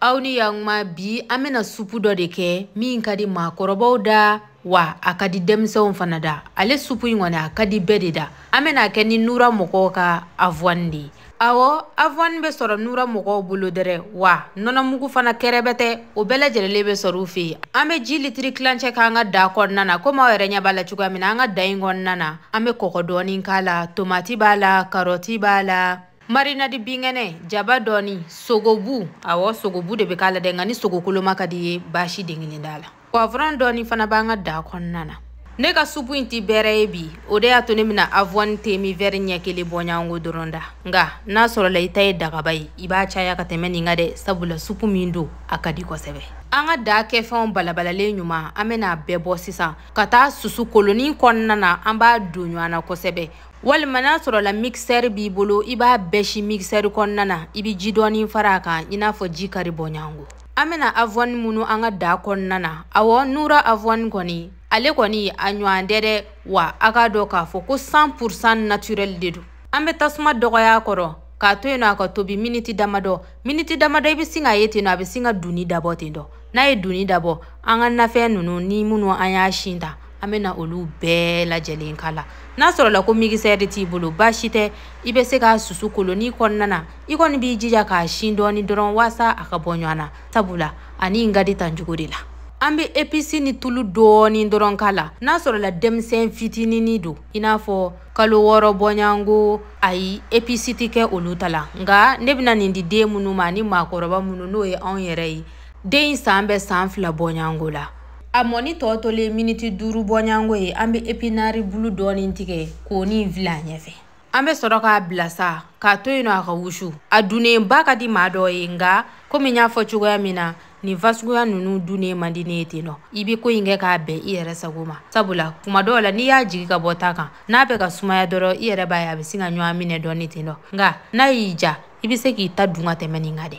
aw ni yakuma bi an bɛna supu dɔ de kɛ min ka di maakɔrɔbaw da wa a ka di denmisɛnw fana da ale supu in kɔni a ka di bɛɛ de da an bɛna a kɛ ni nura mɔgɔw ka avɔni de ye awɔ avɔni bɛ sɔrɔ nura mɔgɔw bolo dɛrɛ wa nɔnɔmugu fana kɛrɛbɛtɛ o bɛɛ lajɛlenlen bɛ sɔrɔ u fɛ an bɛ ji litiri tilancɛ k'an ka da kɔnɔna na komi aw yɛrɛ ɲɛ b'a la cogoya min na an ka da in kɔnɔna na an bɛ kɔgɔ dɔɔni k'a la tomati b'a la karɔti b'a la marinadi binkɛnɛ jaba dɔɔni sogobu awɔ sogobu de bɛ k'a la dɛ nka ni sogokoloma ka di i ye baasi den kelen t'a la pɔwurɔn dɔɔni fana b'an ka da kɔnɔna na ne ka supu in ti bɛrɛ ye bi o de y'a to ne bɛna avɔni teminvɛri ɲɛ kelen bɔɲango dɔrɔn ta nka n'a sɔrɔla i ta ye dagaba ye i b'a caya ka tɛmɛ nin kan dɛ sabula supu min don a ka di kosɛbɛ an ka daa kɛfɛnw balabalalen ɲuman an bɛna a bɛɛ bɔ sisan ka taa susu kolonin kɔnɔna na an b'a don ɲɔgɔn na kosɛbɛ walima n'a sɔrɔla mikisɛri b'i bolo i b'a bɛɛ si mikisɛri kɔnɔna na i bɛ ji dɔɔni fara a kan i n'a fɔ ji kari bɔɲango an bɛna avɔni munu an ka da kɔnɔna na awɔ nura avɔni kɔni ale kɔni a ɲɔgɔn tɛ dɛ wa a k'a dɔn k'a fɔ ko 100 pourcent naturel de don an bɛ tasuma dɔgɔya a kɔrɔ k'a to yen nɔ a ka tobi miniti damadɔ miniti damadɔ i bɛ sin k'a ye ten nɔ a bɛ sin ka dunni dabɔ ten dɔ n'a ye dunni dabɔ an ka nafɛn ninnu ni minnu an y'a sin ta an bɛna olu bɛɛ lajɛlen k'a la n'a sɔrɔla ko migisɛri t'i bolo baasi tɛ i bɛ se k'a susu kolonin kɔnɔna na i kɔni b'i jija k'a sin dɔɔni dɔrɔn waasa a ka bɔ ɲɔgɔn na sabula a nin ka di tan cogo de la an bɛ episi ni tulu dɔɔni dɔrɔn k'a la n'a sɔrɔla denmisɛn fitinini don i n'a fɔ kalo wɔɔrɔ bɔɲango ayi episi tɛ kɛ olu ta la nka ne bɛna nin di den minnu ma ani maakɔrɔba minnu n'o ye anw yɛrɛ ye den in san bɛ san fila bɔɲango la a mɔnni tɔ tolen miniti duuru bɔɲango ye an bɛ epinari bulu dɔɔni tigɛ k'o nin fili a ɲɛfɛ an bɛ sɔrɔ k'a bila sa k'a to yen nɔ a ka wusu a dunnenba ka di maa dɔ ye nka komi n y'a fɔ cogoya min na nin fasuguya ninnu dunnen man di ne ye ten nɔ i bɛ ko in kɛ k'a bɛn i yɛrɛ sago ma sabula kuma dɔw la n'i y'a jigi ka bɔ ta kan n'a bɛ ka sumaya dɔrɔn i yɛrɛ b'a ye a bɛ sin ka ɲɔgɔn minɛ dɔɔni ten nɔ nka n'a y'i ja i bɛ se k'i ta dun ka tɛmɛ nin kan dɛ